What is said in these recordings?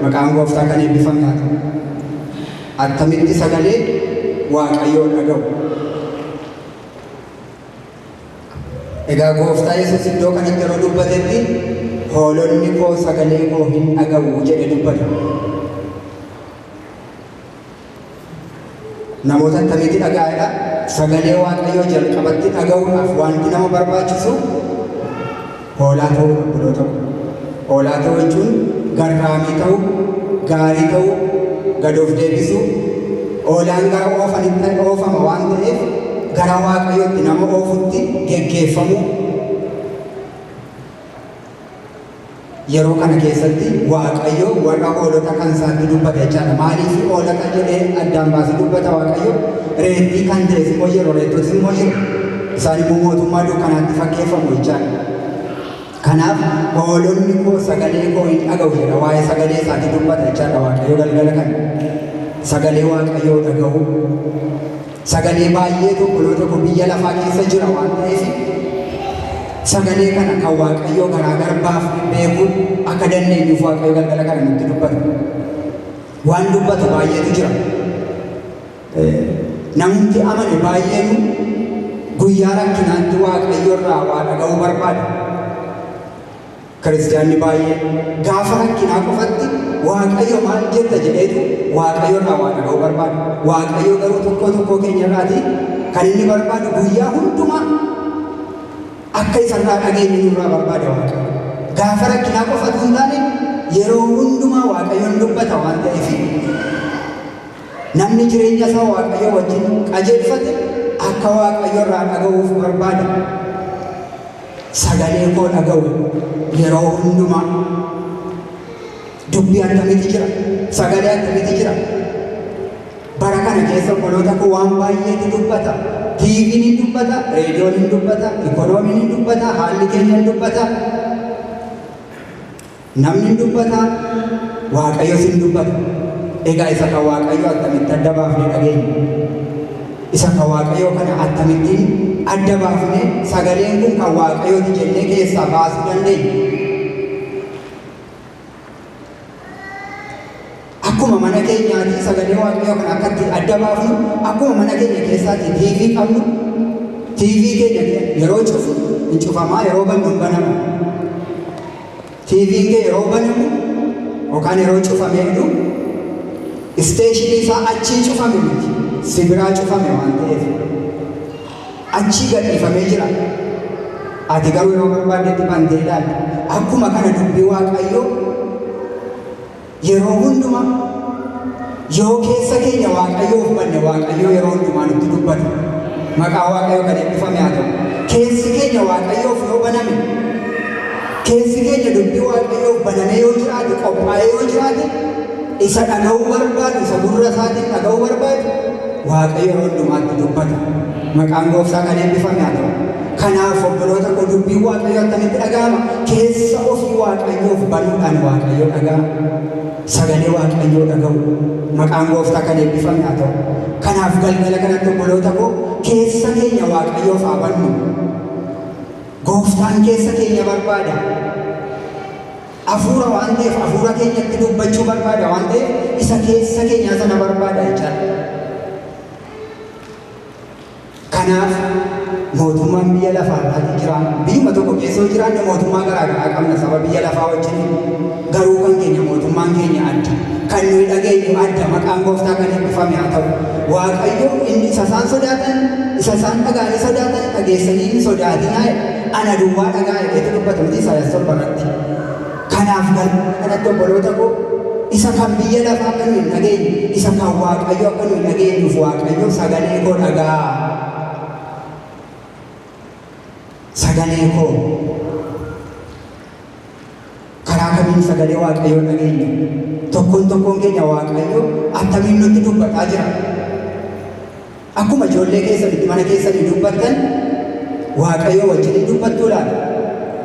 maqaan gooftaa kan eebbifame haa ta'u. Attamitti sagalee waaqayyoo dhaga'u. Egaa gooftaa Yesuus iddoo kanatti yeroo dubbatetti hoolonni koo sagalee koo hin dhaga'u jedhe dubbate. Namoota akkamitti dhaga'aadha? Sagalee Waaqayyoo jalqabatti dhaga'uudhaaf wanti nama barbaachisu hoolaa ta'uu qulqulluu ta'u. Hoolaa ta'uu jechuun garraamii ta'uu, gaarii ta'uu, gad of deebisuu, hoolaan gara oofanitti oofama waan ta'eef gara Waaqayyootti nama oofutti geggeeffamuu Yeroo kana keessatti Waaqayyo warra hoolota kan isaatti dubbata jechaadha. Maaliif hoolota jedhee addaan baasee dubbata Waaqayyo? Reettii kan ta'es immoo yeroo reettotis immoo jiru. Isaan immoo mootummaa dukkanaatti fakkeeffamu jechaadha. Kanaaf hoolonni koo sagalee koo hin dhaga'u jedha. Waa'ee sagalee isaatti dubbata jechaadha Waaqayyo galgala kana. Sagalee Waaqayyoo dhaga'u Sagalee baay'eetu obboloota koo biyya lafaa keessa jira waan ta'eef sagalee kana kan Waaqayyoo garaagar baafnee beekuu akka dandeenyuuf Waaqayyo galgala kana nutti dubbata. Waan dubbatu baay'eetu jira. Namumti amane baay'eenu guyyaa rakkinaatti Waaqayyo irraa waa dhaga'uu barbaada. Kiristiyaanni baay'een gaafa rakkinaa qofatti Waaqayyo maal jetta jedheetu Waaqayyo irraa waa dhaga'uu barbaada. Waaqayyo garuu tokkoo tokkoo keenya irraati kan inni barbaadu guyyaa hundumaa akka isarraa dhageenyu nurraa barbaada Waaqayyo. Gaafa rakkinaa qofatu hin taane yeroo hundumaa Waaqayyoon dubbata waan ta'eef Namni jireenya isaa Waaqayyoo wajjin qajeelfate akka Waaqayyo irraa dhaga'uuf barbaada. Sagalee koo dhaga'u yeroo hundumaa. Dubbii akkamitti jira? Sagalee akkamitti jira? Bara kana keessa obboloota koo waan baay'eetu dubbata. Tiiviin ni dubbata, reediyoon ni dubbata, ikoonomiin ni dubbata, haalli keenya ni dubbata. Namni hin dubbataa? Waaqayyos hin dubbata. Egaa isa kan Waaqayyoo attamitti adda baafnee dhageenya? Isa kan Waaqayyoo kana attamittiin adda baafnee sagaleen kun kan Waaqayyooti jennee keessaa baasuu dandeenya? Akkuma mana keenyaatii sagalee waaqayyoo kana akka itti adda baafnu, akkuma mana keenya keessaatti TV qabnu, TV keenya yeroo cufu hin cufamaa, yeroo bannu hin banamu. TV kee yeroo banamu yookaan yeroo cufame jedhu isteeshinii isaa achii cufame miti, si biraa cufame waan ta'eef achii gadhiifamee jira. Ati garuu yeroo barbaaddetti bantee ilaalta. Akkuma kana dubbii waaqayyoo Yeroo hundumaa yoo keessa keenya Waaqayyoof banne Waaqayyo yeroo hundumaa nutti dubbata. Maqaa Waaqayyo kan eebbifame haa ta'u. Keessi keenya Waaqayyoof yoo baname, keessi keenya dubbii Waaqayyoof banamee yoo jiraate, qophaa'ee yoo jiraate, isa dhaga'uu barbaadu, isa gurra isaatiin dhaga'uu barbaadu, Waaqayyo yeroo hundumaatti dubbata. Maqaan Gooftaa kan eebbifame haa ta'u. Kanaaf obboloota koo dubbiin Waaqayyoo akkamitti dhaga'ama? Keessa ofii Waaqayyoof banuudhaan Waaqayyoo dhaga'ama. Sagalee Waaqayyoo dhaga'u. Maqaan gooftaa kan eebbifame haa ta'u. Kanaaf galgala kanatti obboloota koo keessa keenya Waaqayyoof haa bannu. Gooftaan keessa keenya barbaada. Hafuura waan ta'eef hafuura keenyatti dubbachuu barbaada waan ta'eef isa keessa keenyaa sana barbaada jechaadha. Kanaaf mootummaan biyya lafaa irraati jira. Biyyuma tokko keessa yoo jiraanne mootummaa garaa garaa qabna saba biyya lafaa wajjin. Garuu kan keenya mootummaan keenya adda. Kan nuyi dhageenyu adda maqaan gooftaa kan eebbifame haa ta'u. Waaqayyo inni isa isaan sodaatan isa isaan dhaga'anii sodaatan dhageessanii hin sodaatinaa jedhe. Ana duwwaa dhaga'aa jedheetu dubbata miti Isaayaas torba irratti. Kanaaf galma kanatti obboloota koo isa kan biyya lafaa akka nuyi hin dhageenye, isa kan Waaqayyo akka nuyi dhageenyuuf Waaqayyo sagalee koo dhagaa. Sagalee koo. Karaa kamiin sagalee Waaqayyoo dhageenya? Tokkoon tokkoon keenya Waaqayyo attamiin nutti dubbataa jira? Akkuma ijoollee keessan itti mana keessanii dubbattan Waaqayyoo wajjin hin dubbattuu laata?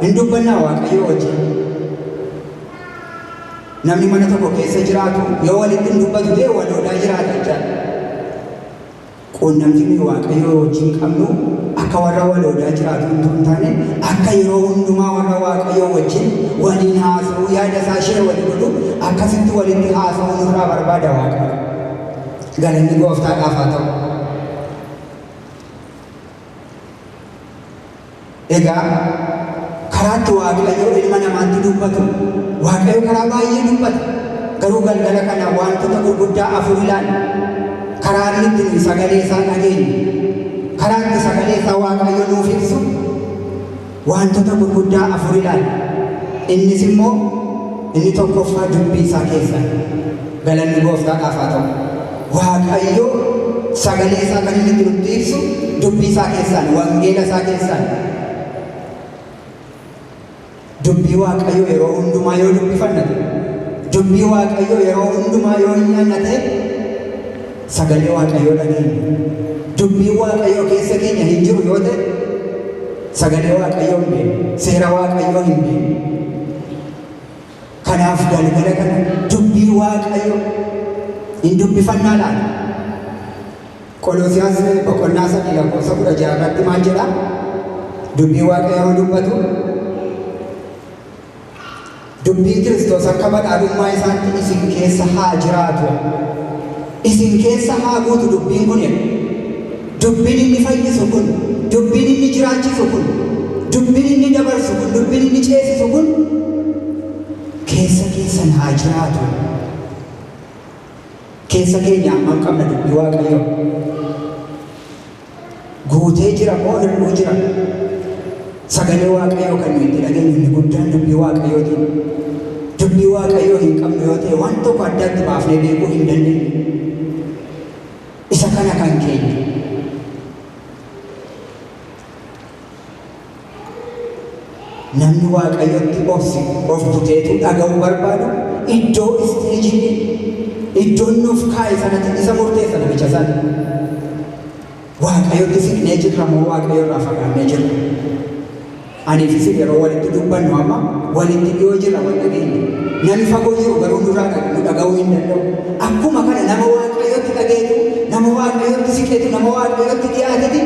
Hin dubbannaa Waaqayyoo wajjin? Namni mana tokko keessa jiraatu yoo walitti hin dubbatu ta'e waloodaa jiraata jechaadha. Quunnamtiin nuyi Waaqayyoo wajjin qabnu akka warra waloodaa jiraatu hin ta'u hin taane akka yeroo hundumaa warra Waaqayyoo wajjin waliin haasa'uu yaada isaa ishee walii godhu akkasitti walitti haasa'uu nurraa barbaada Waaqayyo. Galanni gooftaadhaaf haa ta'u. Egaa karaa itti waaqayyoo ilma namaatti dubbatu waaqayyo karaa baay'ee dubbata. Garuu galgala kana wantoota gurguddaa afur ilaalla. Karaa inni itti nuyi sagalee isaa dhageenyu, karaa itti sagalee isaa waaqayyo nuuf ibsu Waantota gurguddaa afur ilaali. Innis immoo inni tokkoffaa dubbii isaa keessa dha. Galanni Gooftaadhaaf haa ta'u. Waaqayyo sagalee isaa kan inni itti nutti ibsu dubbii isaa keessaan, wangeela isaa keessaan. Dubbii Waaqayyoo yeroo hundumaa yoo dubbifanna ta'e, dubbii Waaqayyoo yeroo hundumaa yoo hin nyaanna ta'e, Sagalee Waaqayyoo dhageenya. Dubbiin Waaqayyoo keessa keenya hin jiru yoo ta'e, sagalee Waaqayyoo hin beeknu, seera Waaqayyoo hin beeknu. Kanaaf galgala kana dubbii Waaqayyo hin dubbifannaa laata? Qoloosiyaas boqonnaa sadii lakkoofsa kudha ja'a irratti maal jedha? Dubbii Waaqayyoo yoo dubbatu Dubbiin Kiristoos akka badhaadhummaa isaatti isin keessa haa jiraatu. Isin keessa haa guutu dubbiin kun jedha. Dubbiin inni fayyisu kun, dubbiin inni jiraachisu kun, dubbiin inni dabarsu kun, dubbiin inni ceesisu kun keessa keessan haa jiraatu. Keessa keenya hammam qabna dubbii Waaqayyoo? Guutee jira moo hir'uu jira? Sagalee Waaqayyoo kan nuyi itti dhageenyu inni guddaan dubbii Waaqayyootiin. Dubbii Waaqayyoo hin qabnu yoo ta'e waan tokko addaatti baafnee beekuu hin dandeenyu. Isa kana kan keenya. Namni Waaqayyotti obse of buteetuu dhaga'uu barbaadu iddoo isteejii iddoon nuuf kaa'e sanatti isa murteessa namicha sana. Waaqayyotti siqnee jirra moo Waaqayyo irraa fagaannee jirra? Anii fi isin yeroo walitti dubbannu amma walitti dhiyoo jirra wal dhageenya. Namni fagoo jiru garuu nurraa dhaga- nu dhaga'uu hin danda'u. Akkuma kana nama Waaqayyotti qajeelu, nama Waaqayyotti siqetu, nama Waaqayyotti dhiyaateti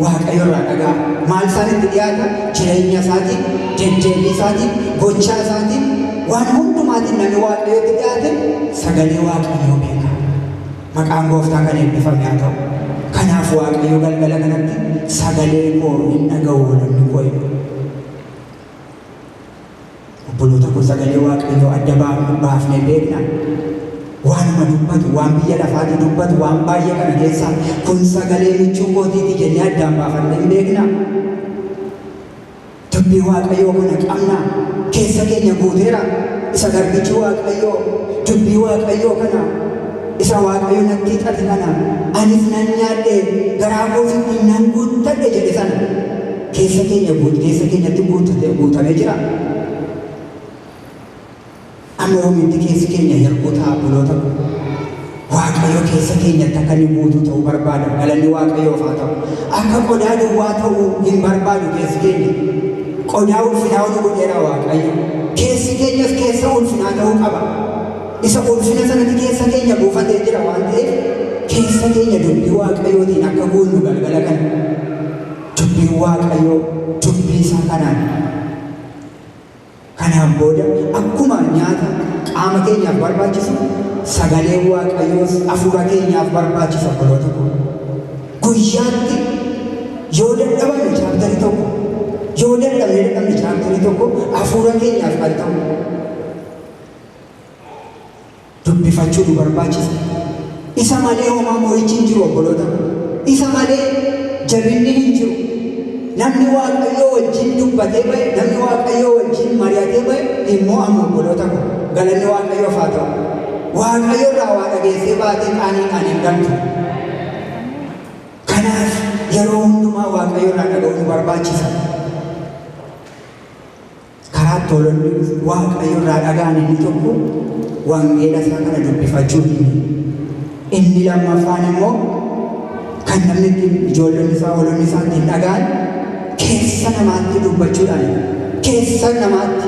Waaqayyo irraa dhaga'a. Maal isaan itti dhiyaata? Jireenya isaatiin, deddeebii isaatiin, gochaa isaatiin, waan hundumaatiin namni Waaqayyotti dhiyaate sagalee Waaqayyoo beeka. Maqaan gooftaa kan eebbifame haa ta'u. Kanaaf Waaqayyo galgala kanatti sagalee koo hin dhaga'u namni koo jedha. Obboloota koo sagalee Waaqayyoo adda baafne- baafnee beeknaa? Waanuma dubbatu, waan biyya lafaati dubbatu, waan baay'ee kana keessaa kun sagalee michuu kootiiti jennee addaan baafannee hin beeknaa? Dubbii Waaqayyoo kana qabnaa? Keessa keenya guuteera. Isa garbichi Waaqayyoo dubbii Waaqayyoo kana isa Waaqayyo natti hixate kana anis nan nyaadhe garaa koos ittiin nan guuttadhe jedhe sana. Keessa keenya guut keessa keenyatti guutate guutamee jira. Amma yoomitti keessi keenya hir'uu ta'a buloota koo. Waaqayyo keessa keenyatti akka inni guutuu ta'uu barbaada. Galanni Waaqayyoof haa ta'u. Akka qodaa duwwaa ta'uu hin barbaadu keessi keenya. Qodaa ulfinaa ol godheera Waaqayyo. Keessi keenyas keessa ulfinaa ta'uu qaba. Isa ulfina sanatti keessa keenya buufatee jira waan ta'eef keessa keenya dubbii Waaqayyootiin akka guunnu galgala kana. Dubbiin Waaqayyoo dubbii isaa kanaan kanaan booda akkuma nyaata qaama keenyaaf barbaachisu sagaleen Waaqayyoos hafuura keenyaaf barbaachisa obboloota koo. Guyyaatti yoo dadhabame chaaptarii tokko yoo dadhabne dadhabne chaaptarii tokko hafuura keenyaaf kan ta'u dubbifachuu nu barbaachisa. Isa malee homaa mo'ichi hin jiru obboloota ko. Isa malee jabinni hin jiru. Namni Waaqayyoo wajjin dubbatee ba'e, namni Waaqayyoo wajjin mari'atee ba'e hin mo'amu obboloota ko. Galanni Waaqayyoof haa ta'u. Waaqayyo irraa waa dhageessee baatee qaaniidhaan hin galtu. Kanaaf yeroo hundumaa Waaqayyo irraa dhaga'uu nu barbaachisa. Karaa tolonni Waaqayyo irraa dhagaan inni tokko wangeela isaa kana dubbifachuu himi. Inni lammaffaan immoo kan namni ittiin ijoolleen isaa walonni isaa ittiin dhagaan keessa namaatti dubbachuudhaan keessa namaatti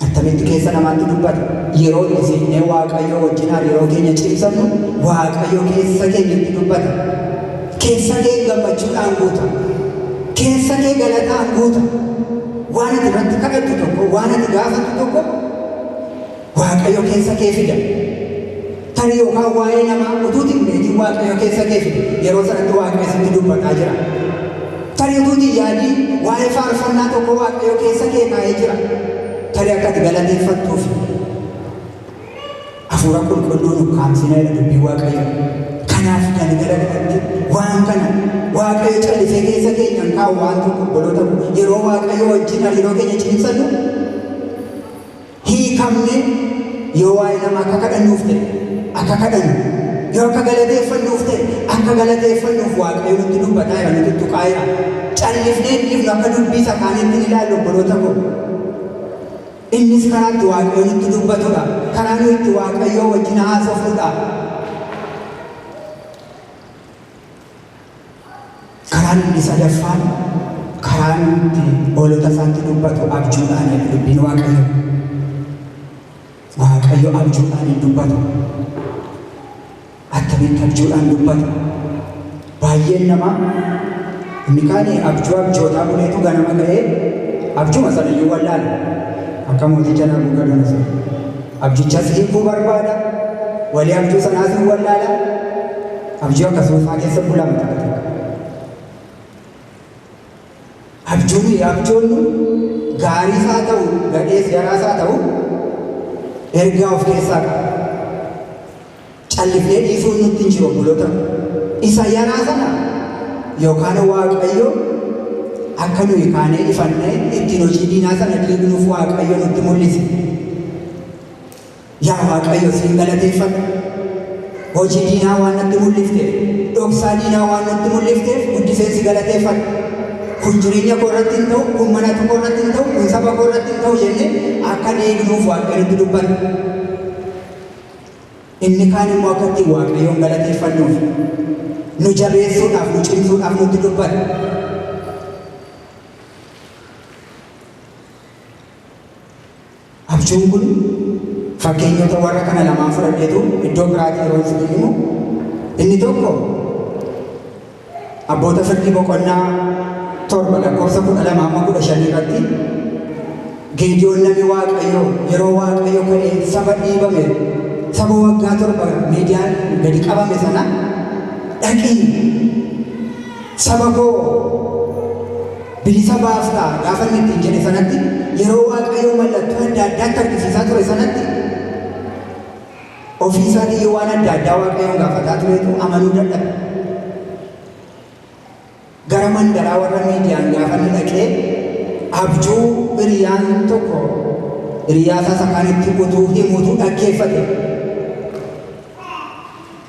Attamitti keessa namaatti dubbata? Yeroo dhiisifnee Waaqayyoo wajjin hariiroo keenya cimsannu Waaqayyo keessa keenyatti dubbata. Keessa kee gammachuudhaan guuta. Keessa kee galataan guuta. Waan ati irratti kadhattu tokko, waan ati gaafattu tokko Waaqayyo keessa kee fida. Tarii yookaan waa'ee namaa utuu hin beekin Waaqayyo keessa kee fide yeroo sanatti Waaqayyo sitti dubbataa jira. Tarii utuu hin yaadin waa'ee faarfannaa tokko Waaqayyo keessa kee kaa'ee jira. Tarii akka ati galateeffattuufi. Hafuura qulqulluun ukkaamsina jedha dubbii Waaqayyo. Kanaaf galgala kanatti waan kana Waaqayyo callisee keessa keenya hin kaa'u waan tokko obboloota yeroo Waaqayyo wajjin hariiroo keenya cimsannu hiikamne yoo waa'ee nama akka kadhannuuf ta'e akka kadhannu yoo akka galateeffannuuf ta'e akka galateeffannuuf waaqayyo nutti dubbataa jira nutti tuqaa jira callifnee dhiifnu akka dubbii isa kaaniitti ni ilaallu obboloota koo innis karaa itti waaqayyo nutti dubbatudha karaa nu itti waaqayyoo wajjin haasofnudha Karaan inni sadaffaan karaa inni itti hoolota isaatti dubbatu abjuudhaan jedha dubbiin Waaqayyo. Waaqayyo abjuudhaan hin dubbatu. Attamitti abjuudhaan dubbata? Baay'een namaa inni kaan abjuu abjootaa buleetu ganama ga'ee abjuma sanayyuu wallaala. Akka mooticha Nabukadonosor. Abjichas hiikuu barbaada. Walii abjuu sanaas hin wallaala. Abjuu akkasuufaa keessa bulama takka takka. Abjuu nuyi abjoonnu gaariis haa ta'u gadhees jaraas haa ta'u ergaa of keessaa qaba. Callifnee dhiisuun nutti hin jiru obboloota. Isa yaraa sana yookaan Waaqayyo akka nuyi kaanee ifannee ittiin hojii diinaa sana diignuuf Waaqayyo nutti mul'ise. Yaa Waaqayyo siin galateeffadha. Hojii diinaa waan natti mul'ifte, dhoksaa diinaa waan natti mul'ifteef guddiseen si galateeffadha. Kun jireenya koo irratti hin ta'u, kun mana koo irratti hin ta'u, kun saba koo irratti hin ta'u jennee akka diignuuf Waaqayyotti dubbanna. Inni kaan immoo akka ittiin Waaqayyoon galateeffannuuf, nu jabeessuudhaaf, nu cimsuudhaaf nutti dubbata. Abjuun kun fakkeenyota warra kana lamaan fudhadheetu iddoo biraatii yeroo isin himu inni tokko Abboota Fakkii boqonnaa 7 lakkoofsa 12 amma 15 irratti Geediyoon namni Waaqayyoo yeroo Waaqayyo ka'ee saba dhiibame saba waggaa torba miidiyaan gadi qabame sana dhaqii saba koo bilisa baaftaa gaafa inni ittiin jedhe sanatti yeroo Waaqayyo mallattoo adda addaatti argisiisaa ture sanatti Ofii isaatii iyyuu waan adda addaa Waaqayyoon gaafataa turetu amanuu dadhabe. Gara mandaraa warra Miidiyaan gaafa inni dhaqee abjuu hiriyaan tokko hiriyaa isaa isa kaan itti utuu himuutu dhaggeeffate.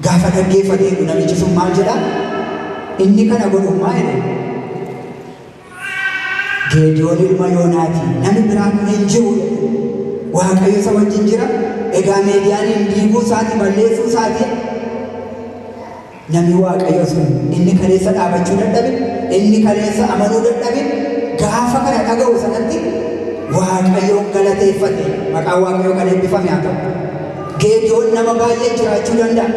Gaafa dhaggeeffate namichi sun maal jedha? Inni kana godhu maal jedhe? Geediyoon ilma Yoonaati, nami biraa kun hin jiru jedhe. Waaqayyo isa wajjin jira. Egaa Meediyaaniin diiguu isaati, balleessuu isaati. Nami Waaqayyo sun inni kaleessa dhaabachuu dadhabe, inni kaleessa amanuu dadhabe, gaafa kana dhaga'u sanatti Waaqayyoon galateeffate. Maqaan Waaqayyoo kan eebbifame haa ta'u. Geediyoon nama baay'ee jiraachuu danda'a.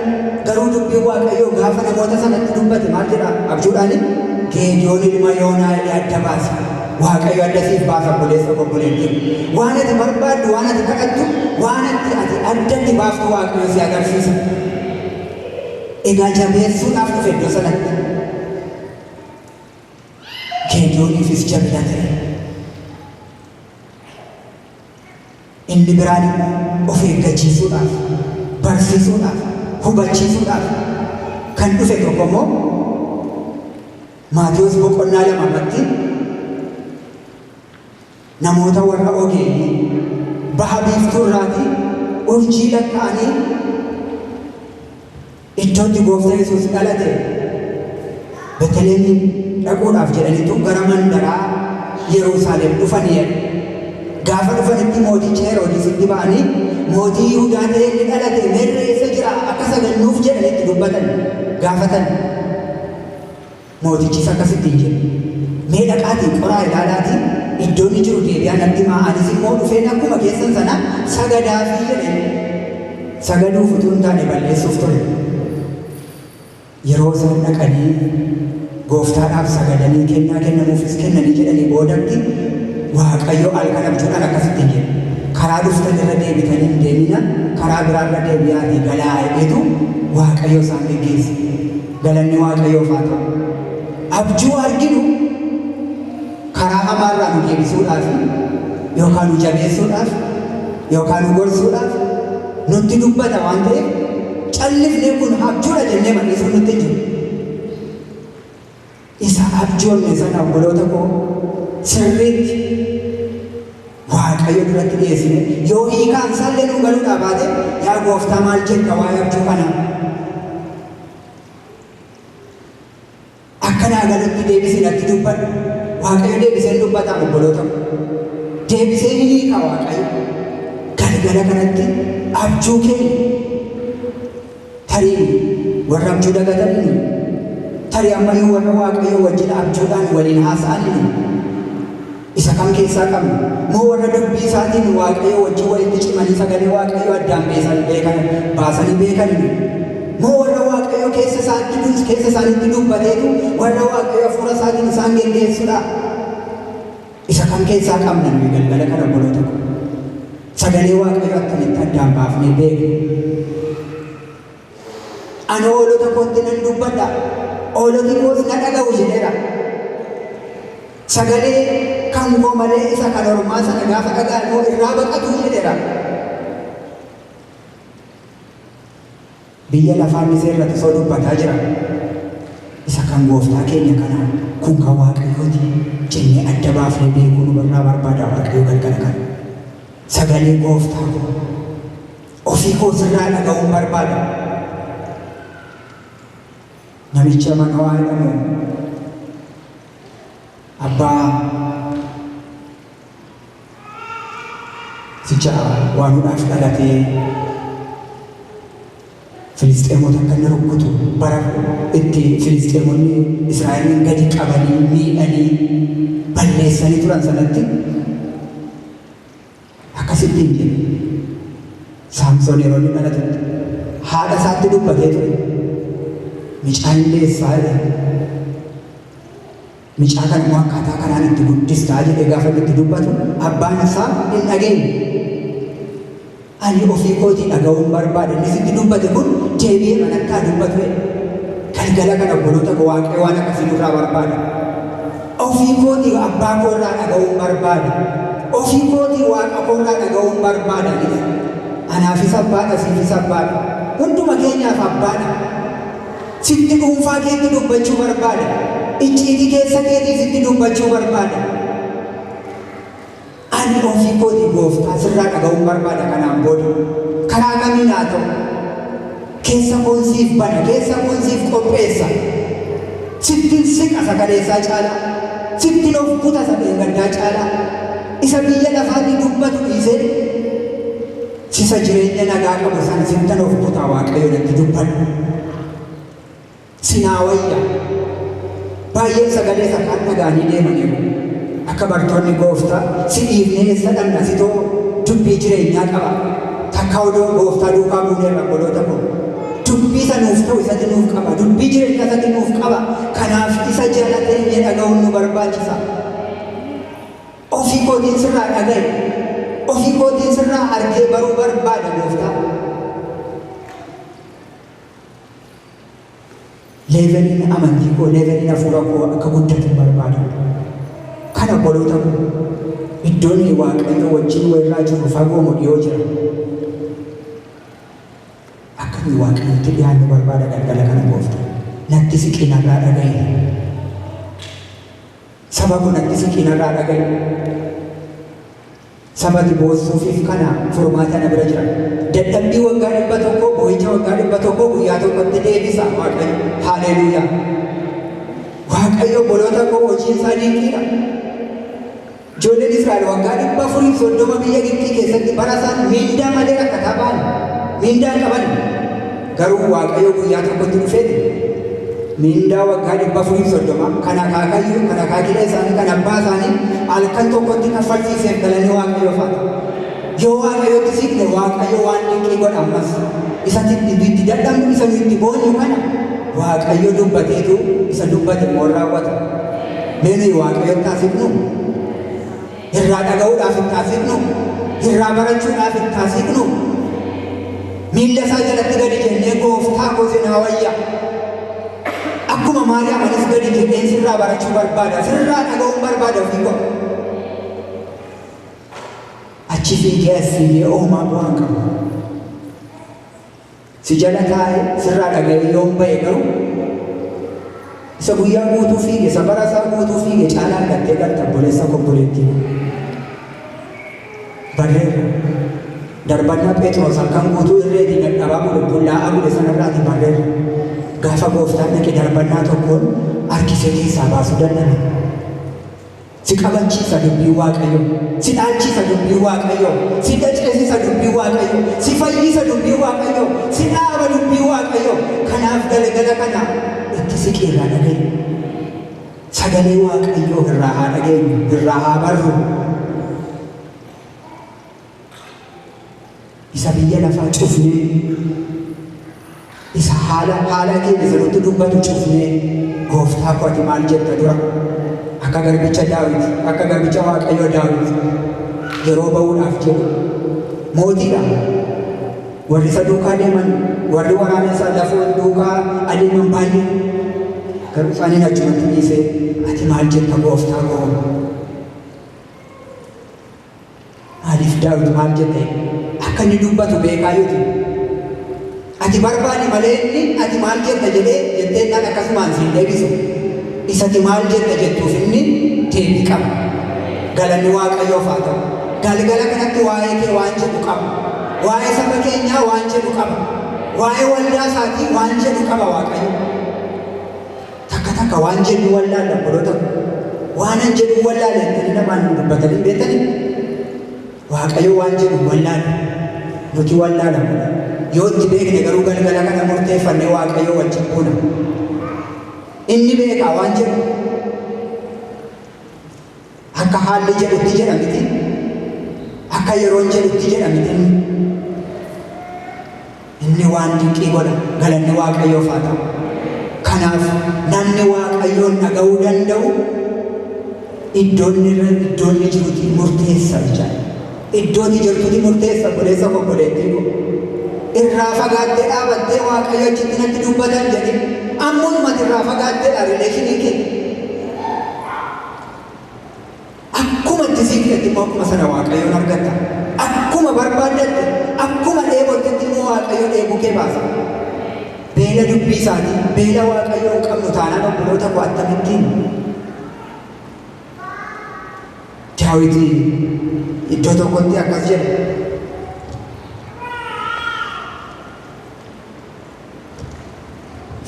Garuu dubbiin Waaqayyoo gaafa namoota sanatti dubbate maal jedha? Abjuudhaani Geediyoon ilma Yoonaa jedhee adda baase. Waaqayyo adda siif baasa obboleessa koo obboleettii. Waan ati barbaaddu, waan ati kadhattu, waan ati ati adda itti baaftu Waaqayyo si agarsiisa. Egaa jabeessuudhaaf dhufe iddoo sanatti. Geediyooniifis jabina ta'e. Inni biraan immoo of eeggachiisuudhaaf, barsiisuudhaaf, hubachiisuudhaaf kan dhufe tokko immoo Maatewos boqonnaa 2 irratti namoota warra ogeeyyii baha biiftuu irraatii urjii lakka'anii Iddoo itti Gooftan Yesuus dhalate Beteleemiin dhaquudhaaf jedhanitu gara mandaraa Yeruusaalem dhufanii jedha. Gaafa dhufanitti mooticha Heroodisitti ba'anii mootii Yihudaa ta'ee inni dhalate meerre eessa jira akka sagannuuf jedhanitti dubbatan gaafatan. Mootichis akkas ittiin jedhe, Mee dhaqaatii qoraa ilaalaatii iddoo inni jiru deebi'aa natti himaa, anis immoo dhufeen akkuma keessan sana sagadaafii jedhe. Sagaduuf utuu hin taane balleessuuf ture. Yeroo isaan dhaqanii gooftaadhaaf sagadanii kennaa kennamuufis kennanii jedhanii boodatti Waaqayyo halkan abjuudhaan akkas ittiin jedhe, Karaa dhuftan irra deebitan hin deemina, karaa biraa irra deebi'aatii galaa jedhetu Waaqayyo isaan geggeesse. Galanni Waaqayyoof haa ta'u! Abjuu arginu karaa hamaa irraa nu deebisuudhaaf yookaan nu jabeessuudhaaf yookaan nu gorsuudhaaf nutti dubbata waan ta'eef callifnee kun abjuudha jennee madhisuun nutti hin jiru. Isa abjoonne sana obboloota koo sirriitti Waaqayyo duratti dhiyeessine yoo hiikaan isaallee nuu galuudhaa baate yaa gooftaa maal jetta waa'ee abjuu kanaa? Akka naa galutti deebisi natti dubbadhu. Waaqayyo deebisee hin dubbataa obboloota koo. Deebisee ni hiika Waaqayyo. Galgala kanatti abjuu keenya Tarii warra abjuu dagatan inni? Tarii ammayyuu warra Waaqayyoo wajjin abjuudhaan waliin haasa'an inni? Isa kam keessaa qabna? Moo warra dubbii isaatiin Waaqayyoo wajjin walitti cimanii sagalee Waaqayyoo addaan beesan beekan baasanii beekan inni? Moo warra Waaqayyoo keessa isaatti dus keessa isaanitti dubbateetu warra Waaqayyoo hafuura isaatiin isaan geggeessudha? Isa kam keessaa qabna nuyi galgala kana obboloota ko? Sagalee Waaqayyoo attamitti addaan baafnee beekna? Ani hoolota kootti nan dubbadha, hooloti koos na dhaga'u jedheera. Sagalee kan koo malee isa kan ormaa sana gaafa dhaga'an immoo irraa baqatu jedheera. Biyya lafaa misee irrati osoo dubbataa jira isa kan gooftaa keenya kanaa kun kan waaqayyooti jennee adda baafnee beekuu nu irraa barbaada waaqayyo galgala kana. Sagalee gooftaa koo ofii koo sirraa dhaga'uun barbaada. Namicha Manawaa jedhamu abbaa Sicha waan hudhaaf dhalatee Filisxeemota akka inni rukkutu bara itti Filisxeemonni Israa'eliin gadi qabanii miidhanii balleessanii turan sanatti akkasitti hin jedhu. Saamsoon yeroo inni dhalatutti haadha isaatti dubbatee ture. Mucaan deessaa jedhe. Micaa kan immoo akkaataa kanaan itti guddistaa jedhee gaafa inni itti dubbatu abbaan isaa hin dhageenye. Ani ofii kootii dhaga'uun barbaade inni sitti dubbate kun deebi'ee manatti haa dubbatu jedhe. Galgala kana obboloota koo waaqayyo waan akkasii nurraa barbaada. Ofii kootii abbaa koo irraa dhaga'uun barbaada. Ofii kootii waaqa koo irraa dhaga'uun barbaada jedhe. Anaafis abbaadha siifis abbaadha. Hunduma keenyaaf abbaadha. Sitti dhuunfaa keetti dubbachuu barbaada. Icciitii keessa keetii sitti dubbachuu barbaada. Ani ofii kootii gooftaa sirraa dhaga'uun barbaada kanaan booda. Karaa kamiin haa ta'u. Keessa koon siif bana, keessa koon siif qopheessa. Sittin siqa isa kaleessaa caalaa. Sittin of kuta isa dheengaddaa caalaa. Isa biyya lafaatti dubbatu dhiisee sisa jireenya nagaa qabu san sittan of kutaa waaqayyo natti dubbadhu sinaa wayya baay'een sagalee isa kaan dhagaanii deemaniiru akka bartoonni gooftaa si dhiifnee eessa dhanna sitoo dubbii jireenyaa qaba takka odoo gooftaa duukaa buuneerra obboloota koo dubbii isa nuuf ta'u isatti nuuf qaba dubbii jireenya isatti nuuf qaba kanaaf isa jalatee inni dhaga'uun nu barbaachisa Ofii kootiin sirraa dhaga'e, ofii kootiin sirraa argee baruu barbaada gooftaa. Leeveliin amantii koo, leeveliin hafuura koo akka guddatu barbaada. Kan obboloota koo iddoon waaqayyo wajjin walirraa jiru fagoo moo dhiyoo jira? Akka inni waaqayyotti dhiyaannu barbaada galgala kana gooftaa. Natti siqii narraa dhaga'i. Saba kun atti siqii narraa dhagayu. Saba ati boossuufiif kana furmaata na bira jira. Dadhabbii waggaa dhibba tokkoo, boo'icha waggaa dhibba tokkoo guyyaa tokkotti deebisa Waaqayyo. Haaleluuyaa! Waaqayyo obboloota koo hojiin isaa dinqiidha. Ijoolleen Israa'el waggaa dhibba afurii soddoma biyya Gibxii keessatti bara isaan miindaa malee rakkataa ba'an miindaa hin qaban. Garuu Waaqayyo guyyaa tokkotti dhufeeti miindaa waggaa dhibba afurii fi soddoma kan akaakayyuu kan akaakilee isaanii kan abbaa isaanii halkan tokkotti kaffalchiiseef galanni Waaqayyoof haa ta'u. Yoo Waaqayyotti siqne Waaqayyo waan dinqii godha ammas. Isa itti dadhabnu isa nu itti boonyu kana Waaqayyo dubbateetu isa dubbate immoo hin raawwata. Mee nuyi Waaqayyotti haa siqnu. Irraa dhaga'uudhaaf itti haa siqnu, irraa barachuudhaaf itti haa siqnu. Miilla isaa jalatti gadi jennee gooftaa koo sin hawayya. Akkuma Maariyaam anis gadi jenneen sirraa barachuu barbaada, sirraa dhaga'uun barbaada ofii koo. Achi fiigee as fiigee oomaa bu'aan qabu. Si jala taa'e, sirraa dhaga'ee yoon ba'e garuu, isa guyyaa guutuu fiige, isa bara isaa guutuu fiige caalaa argattee galta obboleessa koo obboleettii koo. Barreerra. Darbannaa Pheexiroos halkan guutuu irreetii dadhabaa bule, bullaa'aa bule sanarraatii barreerra. Gaafa gooftaan dhaqe darbannaa tokkoon harkisee keessaa baasuu dadhabe. Si qabachiisa dubbii Waaqayyoo. Si dhaalchiisa dubbii Waaqayyoo. Si daceesisa dubbii Waaqayyoo. Si fayyisa dubbii Waaqayyoo. Si dhaaba dubbii Waaqayyoo. Kanaaf galgala kana itti siqi irraa dhaga'i. Sagalee Waaqayyoo irraa haa dhageenyu, irraa haa barru. isa biyya lafaa cufnee isa haala haala keenya sirriitti dubbatu cufnee gooftaa koo ati maal jetta dura akka garbicha daawit akka garbicha waaqayyoo daawit yeroo ba'uudhaaf jedhu mootiidha warri isa duukaa deeman warri waraana isaa lafoo duukaa adeeman baay'ee garuu isaaniin achumatti dhiisee ati maal jetta gooftaa koo Maaliif Daawit maal jedhee akka inni dubbatu beekaa yoo ta'e ati barbaadi malee inni ati maal jetta jedhee jettee kan akkasumaan siin deebisu isati maal jetta jettuuf inni deebii qaba. Galanni Waaqayyoof haa ta'u. Galgala kanatti waa'ee kee waan jedhu qaba. Waa'ee saba keenyaa waan jedhu qaba. Waa'ee waldaa isaatii waan jedhu qaba Waaqayyo. Takka takka waan jennu wallaalla obboloota ko. Waanan jedhu wallaale jettanii namaan hin dubbatanii beektanii? Waaqayyo waan jedhu wallaale. Nuti wallaala mala. Yoo itti beekne garuu galgala kana murteeffannee Waaqayyo wajjin buuna. Inni beekaa waan jedhu. Akka haalli jedhutti jedha miti. Akka yeroon jedhutti jedha miti. Inni waan dinqii godha. Galanni Waaqayyoof haa ta'u. Kanaaf namni Waaqayyoon dhaga'uu danda'u iddoon irra iddoon inni jirutti murteessa jechaadha. Iddoo inni jirtutti murteessa obboleessa koo obboleettii koo. Irraa fagaattee dhaabattee Waaqayyo achitti natti dubbatan jedhee ammuumatti irraa fagaatteedha rileeshinii kee. Akkuma itti sii fidatti immoo akkuma sana Waaqayyoon argatta. Akkuma barbaaddatte, akkuma dheebottetti immoo Waaqayyo dheebuu kee baasa. Beela dubbii isaatii, beela Waaqayyoo hin qabnu taanaan obboloota koo akkamittiin Daawiti iddoo tokkotti akkas jedhe.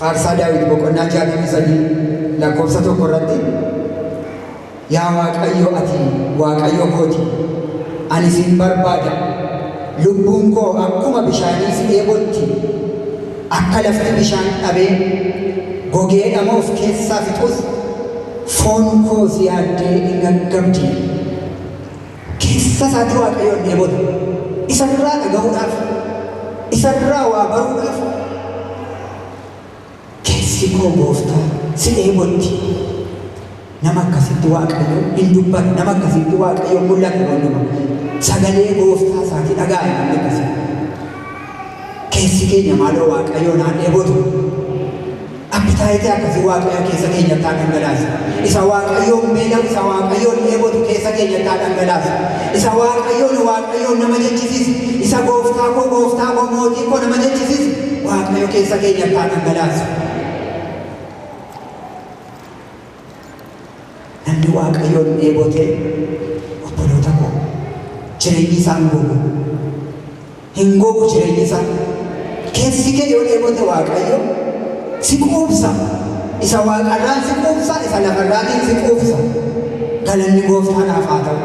Faarsaa Daawit boqonnaa 63 lakkoofsa tokko irratti Yaa Waaqayyo ati Waaqayyo kooti ani sin barbaada lubbuun koo akkuma bishaanii si dheebotti akka lafti bishaan dhabee gogee dhamoof keessaa fixus foon koo si yaaddee hin gaggabdi. Keessa isaanii Waaqayyoon dheebota. Isa irraa dhaga'uudhaaf, isa irraa waa baruudhaaf keessi koo gooftaa si dheebotti. Nama akkasitti Waaqayyo hin dubbatu, nama akkasitti Waaqayyo mul'ata hin dubbatu. Sagalee gooftaa isaati dhaga'a namni akkasii. Keessi keenya maaloo Waaqayyoon haa dheebotu. Appitaayitii akkasii Waaqayyo keessa keenyatti haa dhangalaasu. Isa Waaqayyoon beelamu, isa Waaqayyoon dheebotu keessa keenyatti haa dhangalaasu. Isa Waaqayyoon Waaqayyoon nama jechisiisu, isa gooftaa koo gooftaa koo mootii koo nama jechisiisu Waaqayyo keessa keenyatti haa dhangalaasu. Namni Waaqayyoon dheebote, obboloota koo, jireenyi isaa hin gogu. Hin gogu jireenyi isaa. Keessi kee yoo dheebote Waaqayyo si quubsa. Isa waaqarraan si quubsa, isa lafarraatiin si quubsa. Galanni gooftaadhaaf haa ta'u.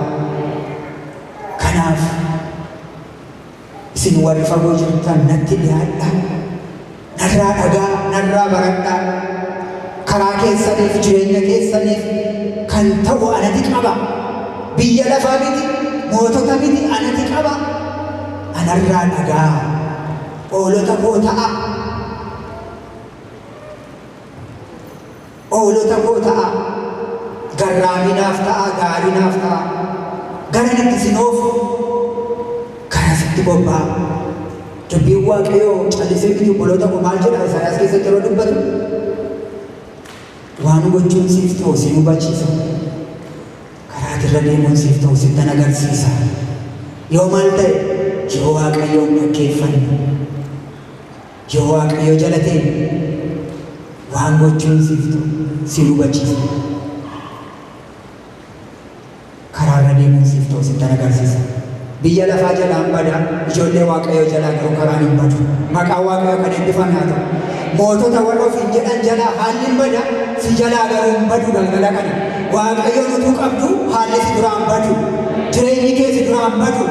Kanaaf Isin warri fagoo jirtan natti dhiyaadhaa, narraa dhaga'aa, narraa baradhaa. Karaa keessaniif jireenya keessaniif kan ta'u anati qaba. Biyya lafaa miti, mootota miti anati qaba. Anarraa dhaga'aa, oolota koo ta'aa. Hoolota koo ta'aa. Garraamii naaf ta'aa, gaarii naaf ta'aa. Garan itti isin oofu kana sitti bobba'aa. Dubbiin Waaqayyoo callisee miti obboloota koo maal jedha Isaayaas keessatti yeroo dubbatu waan gochuun siif ta'u siin hubachiisa. Karaa irra deemuun siif ta'u sittan agarsiisa. Yoo maal ta'e yoo Waaqayyoon dhaggeeffanne Yoo Waaqayyo jalatee waan gochuun siif ta'u si hubachiisa. Karaa irra deemuun siif ta'u sittan agarsiisa. Biyya lafaa jalaan bada, ijoollee Waaqayyoo jalaa garuu karaan hin badu. Maqaan Waaqayyoo kan eebbifame haa ta'u. Mootota warra ofiin jedhan jalaa haalli hin bada, si jalaa garuu hin badu galgala kana. Waaqayyoon utuu qabdu haalli si duraa hin badu. Jireenyi kee si duraa hin badu.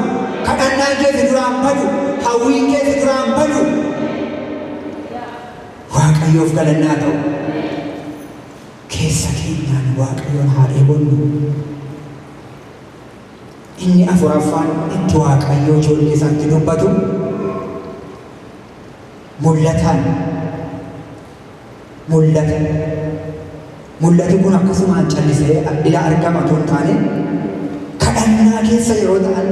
Kadhannaan kee si duraa hin badu. Hawwiin kee si duraa hin badu. Waaqayyoof galannaa ta'u. Keessa keenyaan Waaqayyoon haa dheebonnu. Inni afuraffaan itti Waaqayyoo ijoollee isaatti dubbatu mul'ataan mul'ate. Mul'ati kun akkasumaan callisee ila argama otoo hin taane kadhannaa keessa yeroo ta'an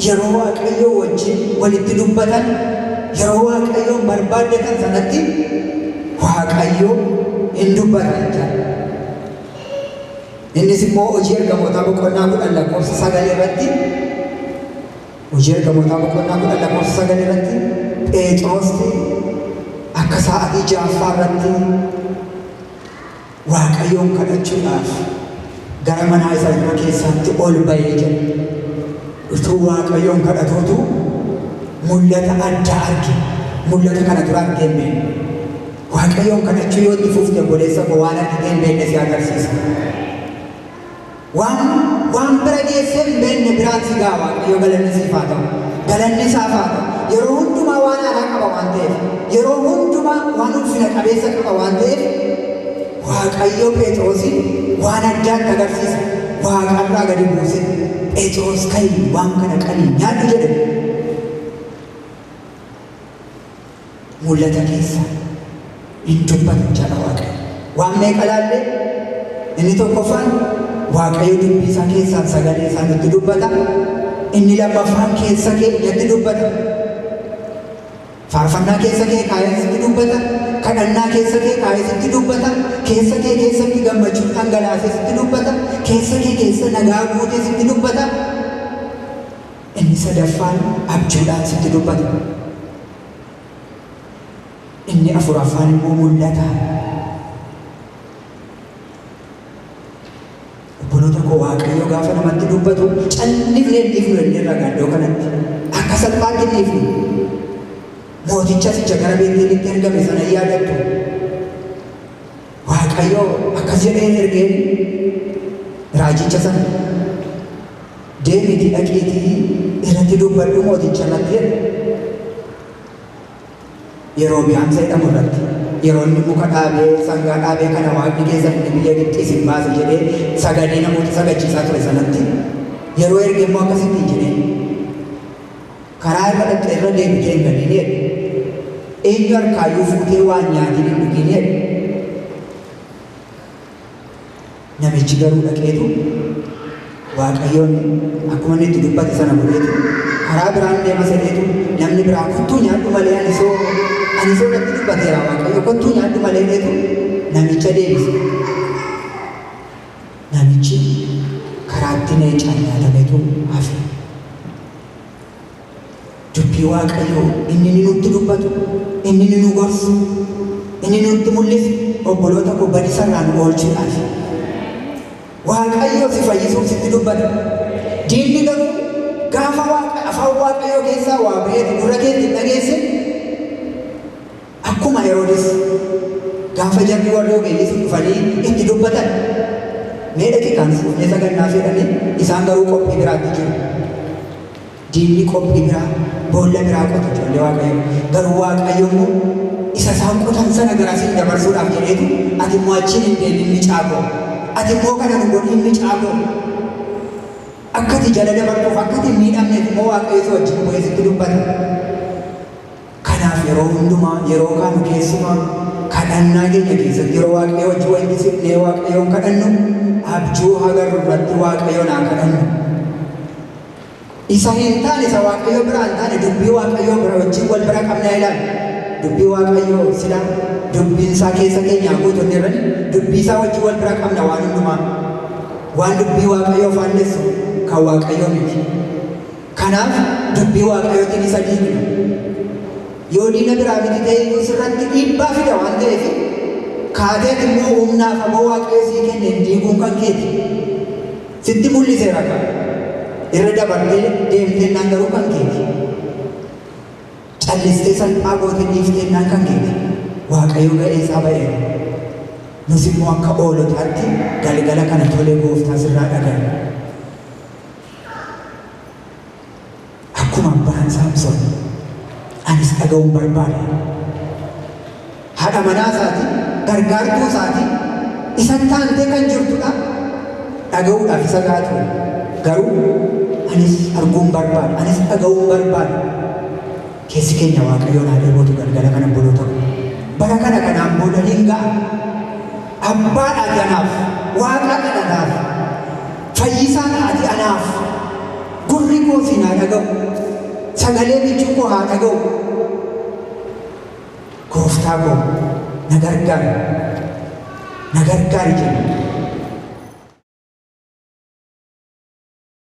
yeroo Waaqayyoo wajjin walitti dubbatan yeroo Waaqayyoon barbaaddatan sanatti Waaqayyo hin dubbata jechaadha. Innis immoo hojii ergamootaa boqonnaa kudhan lakkoofsa sagal irratti Hojii Ergamootaa boqonnaa 10 lakkoofsa 9 irratti Pheexiroosti akka sa'aatii ja'affaa irratti Waaqayyoon kadhachuudhaaf gara manaa isa dhuma keessaatti ol ba'ee jira. Utuu Waaqayyoon kadhatuutu mul'ata addaa arge. Mul'ata kana dura argee hin beekne. Waaqayyoon kadhachuu yoo itti fuufte obboleessa koo waan argitee hin beekne si agarsiisa. Waan waan bira geessee hin beekne biraatii gaa Waaqayyo galanni siif haa ta'u. Galanni isaaf haa ta'u. Yeroo hundumaa waan haaraa qaba waan ta'eef. Yeroo hundumaa waan ulfina qabeessa qaba waan ta'eef Waaqayyo Pheexiroosin waan addaatti agarsiise. Waaqarraa gadi buuse. Pheexiroos ka'i waan kana qalii nyaadhu jedhe. Mul'ata keessaa hin dubbatu jedha Waaqayyo. Waan meeqa laalle? Inni tokkoffaan Waaqayyo dubbii isaa keessaan sagalee isaa nutti dubbata. Inni lammaffaan keessa kee natti dubbata. Faarfannaa keessa kee kaa'ee sitti dubbata. Kadhannaa keessa kee kaa'ee sitti dubbata. Keessa kee keessatti gammachuun dhangalaasee sitti dubbata. Keessa kee keessa nagaa guutee sitti dubbata. Inni sadaffaan abjuudhaan sitti dubbata. Inni afuraffaan immoo mul'ataan. Obboloota koo Waaqayyo gaafa namatti dubbatu callisnee hin dhiifnu jennee irraa gaaddoo kanatti akka salphaatti hin dhiifnu. Mooticha sicha gara Beetelitti ergame sana hin yaadattu. Waaqayyo akkas jedhee hin ergeen raajicha sana deemiitii dhaqiitii irratti dubbadhu mooticha irratti jedhe. Yeroo biyaan seedhamu irratti yeroo inni muka dhaabee sangaa dhaabee kana waaqni keessan inni biyya Gibxii isin baase jedhee sagadee namoota sagachiisaa ture sanatti yeroo erge immoo akkasittiin jedhee Karaa irra dhaqxe irra deebitee hin baniin jedhe. Eenyu harkaayyuu fuutee waa hin nyaatiin hin dhugiin jedhe. Namichi garuu dhaqeetu Waaqayyoon akkuma inni itti dubbate sana godheetu karaa biraan deema sadeetu namni biraa kottuu nyaadhu malee ani soo ani soo natti dubbateera Waaqayyo kottuu nyaadhu malee jedheetu namicha deebise. Namichi karaatti leecaan nyaatametu hafe. Dubbii Waaqayyoo inni inni nutti dubbatu, inni inni nu gorsu, inni inni nutti mul'isu obboloota koo badiisa irraa nu oolchuudhaafi. Waaqayyoo si fayyisuuf sitti dubbata. Diinni garuu gaafa Waaqa- afaan Waaqayyoo keessaa waa ba'eetu gurra keetti hin dhageessin Akkuma Heroodis gaafa jarri warri ogeeyyii sun dhufanii itti dubbatan, Mee daqiiqaa nu fuudhee sagannaaf jedhanii isaan garuu qophii biraatti jiru. Diinni qophii biraa, boolla biraa qota ijoollee Waaqayyoo. Garuu Waaqayyo immoo isa isaan qotan sana gara siin dabarsuudhaaf jedheetu ati immoo achiin hin deemin micaa koo. Ati immoo kana nu godhiin micaa koo. Akka ati jala dabartuuf, akka ati hin miidhamneef immoo Waaqayyo si wajjin bu'ee sitti dubbata. Kanaaf yeroo hundumaa, yeroo kaanu keessumaa kadhannaa keenya keessatti yeroo Waaqayyo wajjin wal gisifnee Waaqayyoon kadhannu abjuu hagarru irratti Waaqayyoon haa kadhannu. Isa hin taane, isa Waaqayyo biraa hin taane dubbii Waaqayyoo bira wajjin wal bira qabnaa ilaali. Dubbii Waaqayyoo sila dubbiin isaa keessa keenyaa guutu inni irrani dubbii isaa wajjin wal bira qabna waan hundumaa. Waan dubbii Waaqayyoo faallessu kan Waaqayyoo miti. Kanaaf dubbii Waaqayyootiin isa diigna. Yoo diina biraa miti ta'e iyyuu sirratti dhiibbaa fida waan ta'eef kaatee ati immoo humna afaboo Waaqayyo sii kenneen diiguun kan keeti. Sitti mul'iseera kaa. Irra dabartee deemteennaan garuu kan keeti. Callistee salphaa gootee dhiifteennaan kan keeti. Waaqayyo ga'ee isaa ba'eera. Nus immoo akka oolotaatti galgala kana tolee gooftaa sirraa dhaga'e. Akkuma abbaan Saamson anis dhaga'uun barbaade. Haadha manaa isaatiin gargaartuu isaatiin isa taantee kan jirtudha. Dhaga'uudhaaf isa gahaa ture. Garuu anis arguun barbaade, anis dhaga'uun barbaade. Keessi keenya Waaqayyoon haa dheebotu galgala kana obboloota koo. Bara kana kanaan booda hin ga'a. Abbaa dhaati anaaf, Waaqaa kadhataaf, fayyisaa dhaati anaaf. Gurri koo siin haa dhaga'u. Sagalee michuu koo haa dhaga'u. Gooftaa koo na gargaari. Na gargaari jenna.